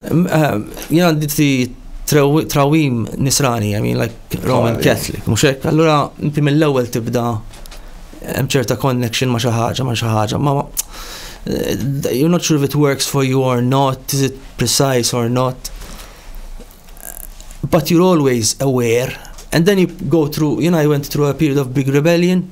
Jien għandi ti trawim nisrani, I mean like Roman Catholic, mhux hekk. Allura inti mill-ewwel tibda hemm ċerta connection ma' xi ħaġa ma' xi ħaġa, ma eh, you're not sure if it works for you or not, is it precise or not. But you're always aware. And then you go through, you know, I went through a period of big rebellion.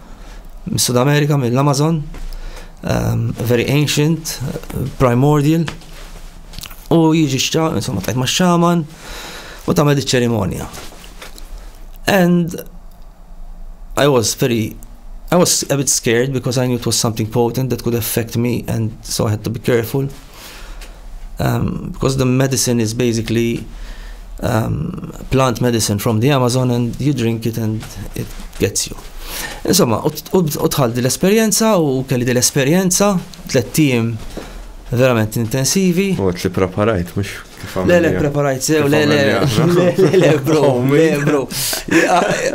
Mis-Sud Amerika, mill-Amazon, um, very ancient, primordial, u jiġi xċaman, insomma, tajt ma xċaman, u tamel iċ-ċerimonja. And I was very I was a bit scared because I knew it was something potent that could affect me and so I had to be careful. um, because the medicine is basically um, plant medicine from the Amazon and you drink it and it gets you. Insomma, u tħal dil-esperienza u kelli dil-esperienza, tlet tim verament intensivi. U li preparajt, mux Le, le, preparajt sew, le, le, le, le, bro, oh, le, bro.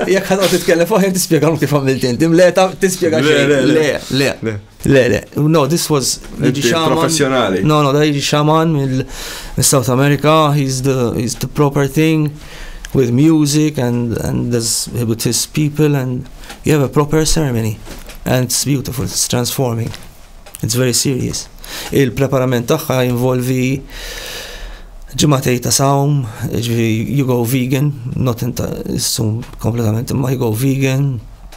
Jek ħadot titkellem fuq, jek tispiegalu kif għamilt inti, le, tispiegalu, le, le, le. Le, le, no, this was jiġi xaman. Professjonali. No, no, da jiġi xaman mill-South America, he's the, he's the proper thing with music and, and there's, with his people and you have a proper ceremony and it's beautiful, it's transforming, it's very serious. Il-preparament tagħha involvi ġimatej ta' sawm, you go vegan, not in ta' sum kompletament, ma you go vegan,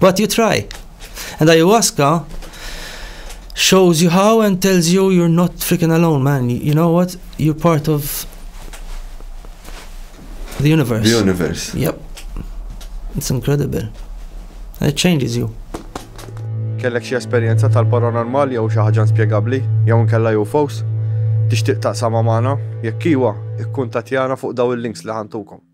But you try. And ayahuasca shows you how and tells you you're not freaking alone, man. You know what? You're part of the universe. The universe. Yep. It's incredible. And it changes you. Kellek xi esperjenza tal-paranormal jew xi ħaġa spjegabbli jew nkella UFOs? Tixtieq taqsama magħna? Jekk iwa, ikkuntatjana fuq daw il-links li ħantukom.